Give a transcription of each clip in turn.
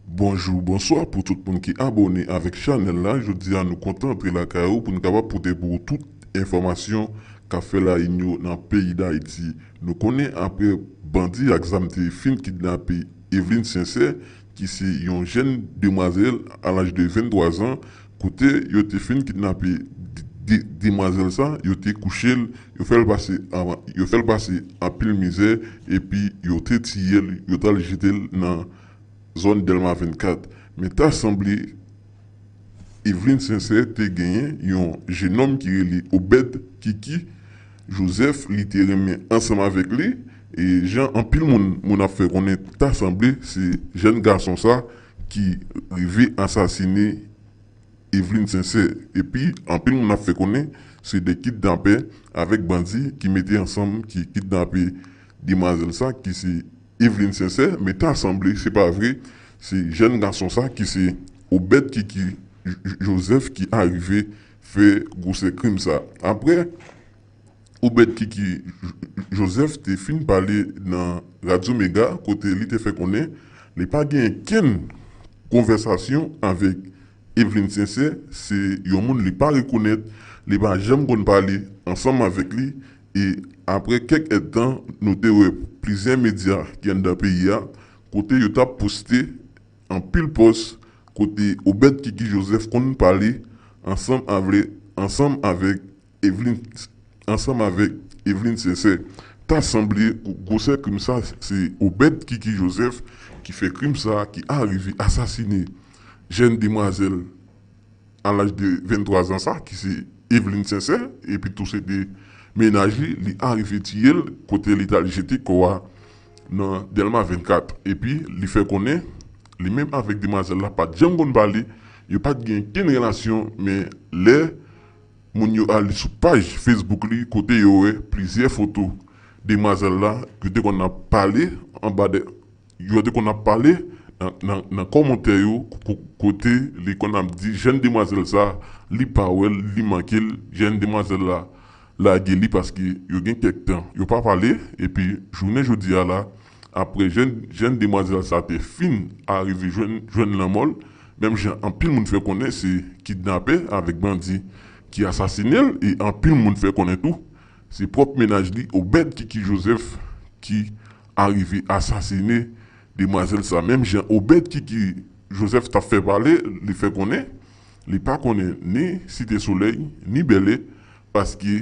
Bonjou bonswa pou tout moun ki abone avèk chanèl la jodi a nou kontan antre lakay ou poun kapab pote pou ou tout enfòmasyon kap fè lain yo nan peyi dayiti nou konnen aprè bandi ak zam te fin kidnape Evelyne Sincère ki se yon jèn demwazèl a laj de 23 zan Kote yo te fin kidnape demwazèl sa, yo te kouche l, yo fè l pase yo fè l pase anpil mizè epi yo te tiye l, yo t al jete l nan zòn Dèlma 24. Men ta sanble Evlin Sensè te genyen yon jenòm ki rele Obèd, Kiki, Jozèf li te renmen ansanm avèk li e jan anpil moun moun ap fè konnen ta sanble se jèn gason sa ki rive ansasine Evelyne Sincère epi anpil moun ap fè konnen se 2 kidnapè avèk bandi ki mete ansanm ki kidnape demwazèl sa ki se Evelyne Sincère men ta sanble se pa vre se jèn gason sa ki se Obed Kiki Joseph ki arive fè gwosè krim sa aprè Obed Kiki Joseph te fin pale nan Radyo Mega kote li te fè konnen li pa genyen kenn konvèsasyon avèk Evelyne Sincère, se yon moun li pa rekonèt, li pa janm konn pale ansanm avèk li e aprè kèk èdtan nou te wè plizyè medya ki anndan peyi a kote yo tap poste anpil pòs kote Obed Kiki Joseph konn pale ansanm avèk Evelyne t ansanm avèk Evelyne Sincère ta sanble gwosè krim sa se Obed Kiki Joseph ki fè krim sa ki arive asasine jèn demwazèl a laj de 23 zan sa ki se Evelyne Sincère epi tou se te mennaj li li arive tiyel kote li tal jete kò a nan Dèlma 24 epi li fè konnen li menm avèk demwazèl la pat janm konn pale yo pat gen kenn relasyon men lè Moun yo ale sou paj Facebook li kote yo wè plizyè foto demwazèl la yo te konn ap pale anba de yo te konn ap pale nan kòmantè yo kote li konn ap di jèn demwazèl sa li pa wè l li manke l jèn demwazèl la lage li paske yo gen kèk tan yo pa pale epi jounen jodi a la Apre jenn demwazèl sa te fin arive jwenn lanmò l, menm jan anpil moun fè konnen se kidnapè avèk bandi ki asasine l e anpil moun fè konnen tou se pwòp mennaj li Obed Kiki Joseph ki arive asasine demwazèl sa menm jan Obed Kiki Joseph t ap fè pale li fè konnen li pa konnen ni Site Solèy ni Bèlè paske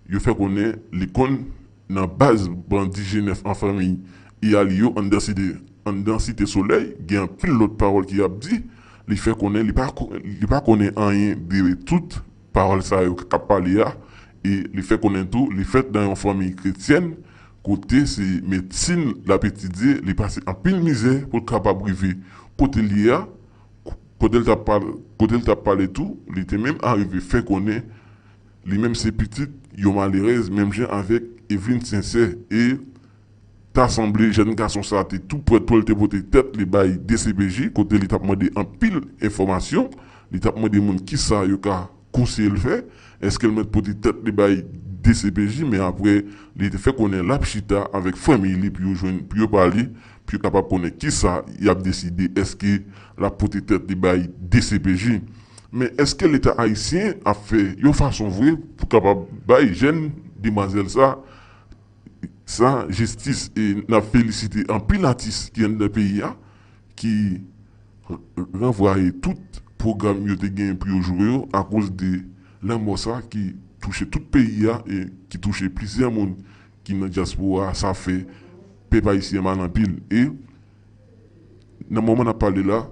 yo fè konnen li konn Nan baz bandi Jenèf an fanmi I a li yo anndan site anndan site solèy gen anpil lòt pawòl ki ap di li fè konnen li pa li pa konnen anyen de tout pawòl sa yo k ap pale a e li fè konnen tou li fèt nan yon fanmi kretyèn kote se medsin l ap etidye li pase anpil mizè pou l kapab rive kote l ye a kote l t ap kote l t ap pale tou li te menm arive fè konnen Li menm se pitit yon malerèz menm jan avèk Evelyne Sincère e ta sanble jèn gason sa te tou prèt pou l te pote tèt li bay dcpj kote li t ap mande anpil enfòmasyon, li t ap mande moun kisa yo ka konseye l fè, èske l mèt pote tèt li bay dcpj men aprè li te fè konnen l ap chita avèk fanmiy li pou yo jwenn pou yo pale. pou yo kapab konnen kisa y ap deside, èske l ap pote tèt li bay dcpj, men èske leta ayisyen ap fè yon fason vre pou kapab bay jèn demwazèl sa sa jistis e n ap felisite anpil atis ki anndan peyi a ki ranvwaye tout pwogram yo te gen pou yo jwe yo akoz de lanmò sa ki touche tout peyi a e ki touche plizyè moun. ki nan dyaspora a sa fè pèp ayisyen mal anpil e nan moman nap pale la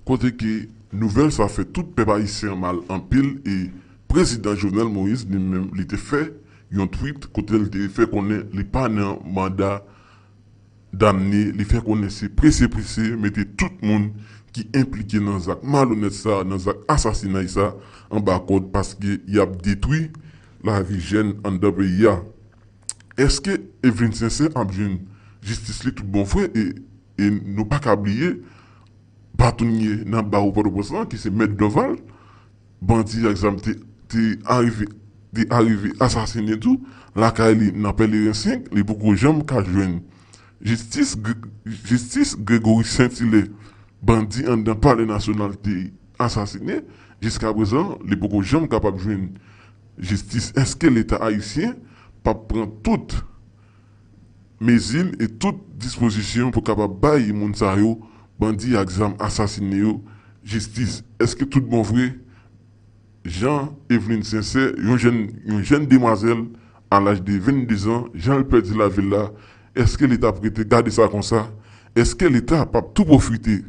kote ke nouvèl sa fè tout pèp ayisyen an mal anpil e prezidan Jovenel Moïse li menm li te fè yon tweet kote li te fè konnen li pa nan manda damne li fè konnen se prese prese mete tout moun ki enplike nan zak malonèt sa nan zak asasinay sa anba kòd paske yap detwi lavi jèn anndan peyi a eske Evelyne Sincère ap jwenn jistis li tout bon vre e nou paka bliye batounye nan bawo pòtoprens lan ki se mèt Dorval Bandi ak zam te arive asasinen tou lakay li nan Pèleren 5, li poko janm ka jwenn jistis, Gregory Saint Hilaire, bandi anndan Palè Nasyonal te asasinen, jiskaprezan li poko janm kapab jwenn jistis, èske leta ayisyen pap pran tout. mezi e tout dispozisyon pou kapab bay moun sa yo, bandi ak zam asasine yo, jistis. Eske tout bon vre Jean Eveline Sincère, yon jèn yon jèn demwazèl a laj de 22 zan, jan l pèdi lavi l la, eske leta ap rete gade sa konsa? Eske leta p ap tou pwofite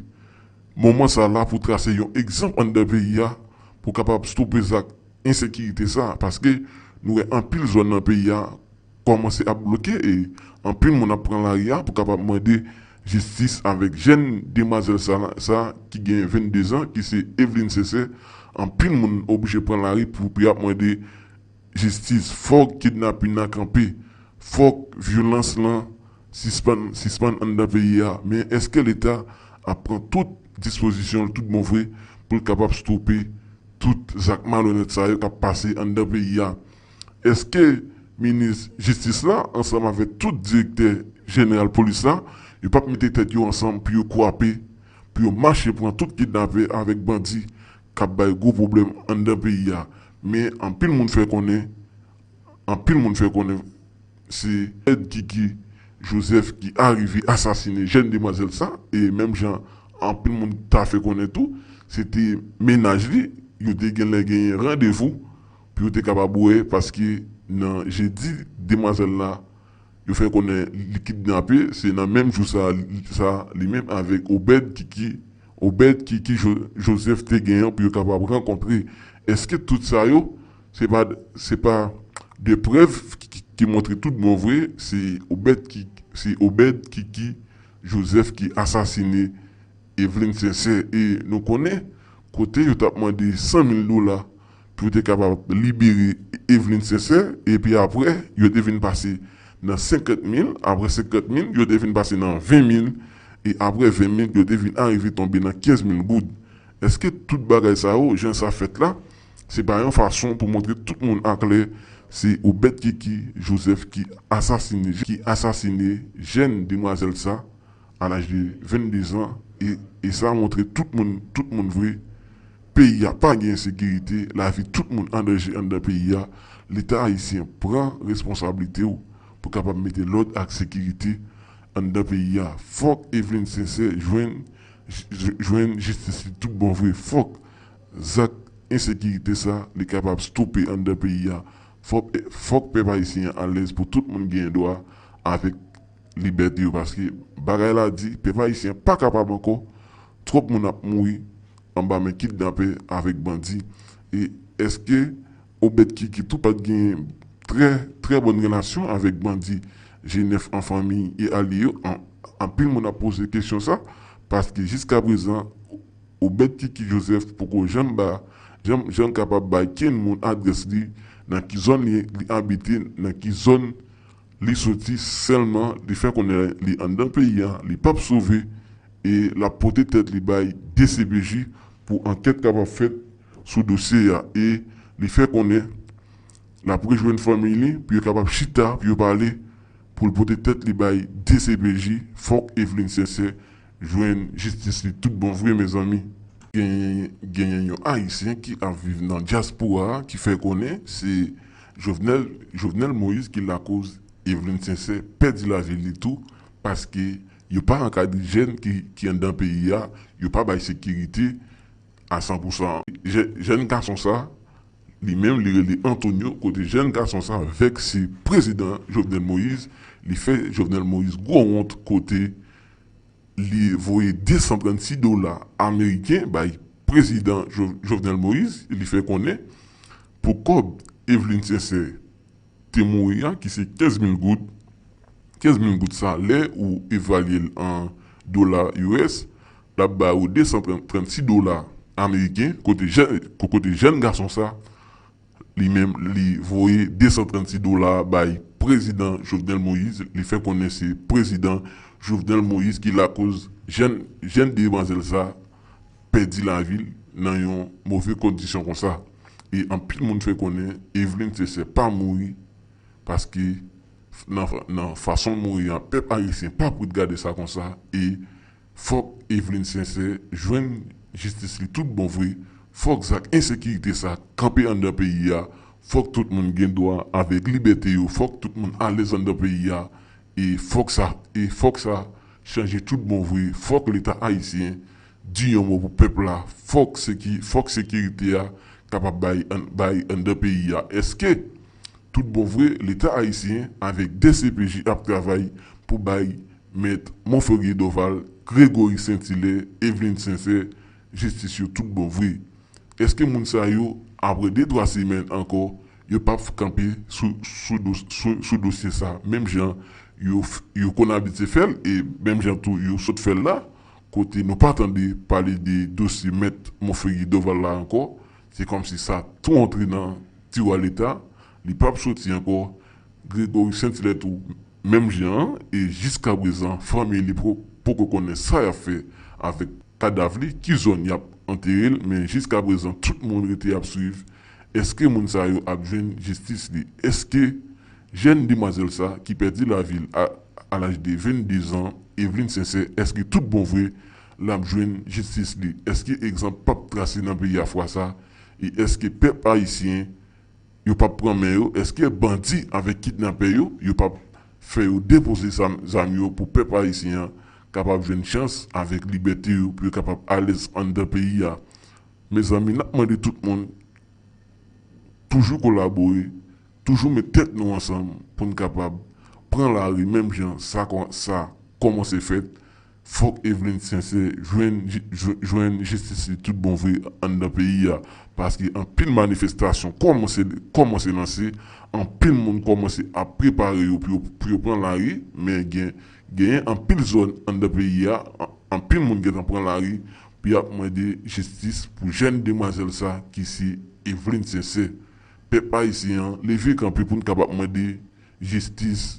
moman sa la pou trase yon egzanp anndan peyi a pou kapab stope zak ensekirite sa? Paske nou wè anpil zòn nan peyi a, kòmanse ap bloke e anpil moun ap pran lari a pou kapab mande jistis avèk jèn demwazèl sa ki gen 22 zan ki se Evelyne Cesay anpil moun oblije pran lari pou pou yap mande jistis fòk kidnapin nan kanpe fòk vyolans lan sispann sispann anndan peyi a men eske leta ap pran tout dispozisyonl tout bon vre poul kapab stope tout zak malonèt sa yo kap pase anndan peyi a. Eske minis jistis la ansanm avèk tout direktè jeneral polis la yo pap mete tèt yo ansanm pou yo kwape pou yo mache pran tout kidnapè avèk bandi kap bay gwo pwoblèm anndan peyi a men anpil moun fè konnen anpil moun fè konnen se èd kiki joseph ki arive asasine jèn demwazèl sa e menm jan anpil moun ta fè konnen tou se te mennaj li yo te genlè genyen randevou Pou yo te kapab wè paske nan jedi demwazèl la yo fè konnen li kidnape se nan menm jou sa sa li menm avèk Obed Kiki Obed Kiki Joseph te gen pou yo kapab rankontre èske tout sa yo se pa se pa de prèv ki montre tout bon vre se Obed Kiki se Obed Kiki Joseph ki asasine Evelyne Sincère e nou konnen kote yo t ap mande 100 mil dola pou yo te kapab libere Eveline Sincère epi aprè yo te vin pase nan 50 mil, aprè 50 mil yo te vin pase nan 20 mil e aprè 20 mil yo te vin arive tonbe nan 15 mil goud. Eske tout bagay sa yo jan sa fèt la se pa yon fason pou montre tout moun aklè se Obed Kiki Joseph ki asasine jèn demwazèl sa? a laj de 22 zan e e sa montre tout moun tout moun vre peyi a pa gen ensekirite lavi tout moun an danje anndan peyi a leta ayisyen pran responsablite w pou kapab mete lòd ak sekirite anndan peyi a fòk Evelyne Sincè jwenn jwenn jistis li tout bon vre fòk zak ensekirite sa li kapab stope anndan peyi a fòk fòk pèp ayisyen an alèz pou tout moun gen dwa avèk. libète yo paske bagay la di pèp ayisyen pa kapab ankò twòp moun ap mouri anba men kidnapè avèk bandi e èske obèd kiki tou pat genyen trè trè bòn relasyon avèk bandi jenèf an fanmi e alye yo anpil moun ap poze kesyon sa paske jiska prezan obèd kiki jozèf poko janm ba janm janm kapab bay kenn moun adrès li nan ki zòn li abite nan ki zòn Li soti sèlman li fè konnen li anndan peyi a li pap sove e lap pote tèt li bay dcpj pou ankèt kapab fèt sou dosye a e li fè konnen lap rejwenn fanmiy li pou yo kapab chita pou yo pale pou l pote tèt li bay dcpj fòk Evelyne Sincère jwenn jistis li tout bon vre mezanmi. Genyen yon ayisyen ki ap viv nan dyaspora ki fè konnen se Jovenel Jovenel Moïse ki lakoz Evelyne Sincère pèdi lavi li tou paske yo pa ankadre jèn ki anndan peyi a yo pa bay sekirite a san pou san jèn gason sa li menm li rele Antonio kote jèn gason sa vèkse prezidan Jovenel Moïse li fè Jovenel Moïse gwo wont kote li voye 236 dola ameriken bay prezidan Jovenel Moïse e li fè konnen pou kòb Evelyne Sincère te mouri a ki se 15 mil goud, 15 mil goud sa lè ou evalye l an dola US l ap ba ou 236 dola ameriken kote jèn gason sa Li menm li voye 236 dola bay prezidan Jovenel Moise, li fè konnen se prezidan Jovenel Moise ki lakoz jèn jèn demwazèl sa pèdi lavi l nan yon move kondisyon konsa e anpil moun fè konnen Eveline Cesay pa mouri paske nan nan fason l mouri a pèp ayisyen pa p ret gade sa konsa e Fòk Eveline Sincère jwenn jistis li tout bon vre, fòk zak ensekirite sa kanpe anndan peyi a, fòk tout moun gen dwa avèk libète yo, fòk tout moun alèz anndan peyi a e fòk sa e fòk sa chanje tout bon vre, fòk leta ayisyen di yon mo pou pèp la, fòk seki fòk sekirite a kapab bay bay anndan peyi a. Eske tout bon vre leta ayisyen avèk dcpj ap travay pou bay Met Monferrier Dorval, Gregory Saint-Hilaire, Eveline Sincère, jistis yo tout bon vre. Eske moun sa yo, apre de twa semèn ankò, yo pap fk kanpe sou dosye sa menm jan yo konn abitye fè l e menm jan tou yo sot fè l la, kote nou pa tande pale de dosye Mèt Monferrier Dorval la ankò, se kòmsi sa tou antre nan tiwa leta, Li pap soti ankò, Gregory Saint Hilaire tou menm jan an e jiskaprezan fanmiy li poko konnen sa yap fè avèk kadav li, ki zòn yap anterel men jiskaprezan tout moun rete ap swiv èske moun sa yo ap jwenn jistis li, èske jèn demwazèl sa ki pèdi lavil a laj de 22 zan Evelyne Sincère èske tout bon vre lap jwenn jistis li, èske egzanp pap trase nan peyi a fwa sa e èske pèp ayisyen yo pap pran men yo eske bandi avek kidnapè yo yo pap fè yo depoze zam yo pou pèp ayisyen an kapab jwenn chans avek libète yo pou yo kapab alèz anndan peyi a mezanmi nap mande tout moun toujou kolabore toujou met tèt nou ansanm poun kapab pran lari menm jan sa kòmanse fèt. Fok Eveline Sincère jwenn jwenn jistis li tout bon vre anndan peyi a paske anpil manifestasyon kòmanse kòmanse lanse anpil moun kòmanse ap prepare yo pou yo pran lari men gen genyen anpil zòn anndan peyi a anpil moun gentan pran lari pou yap mande jistis pou jèn demwazèl sa ki se Eveline Sincère pèp ayisyen an leve kanpe poun kapab mande jistis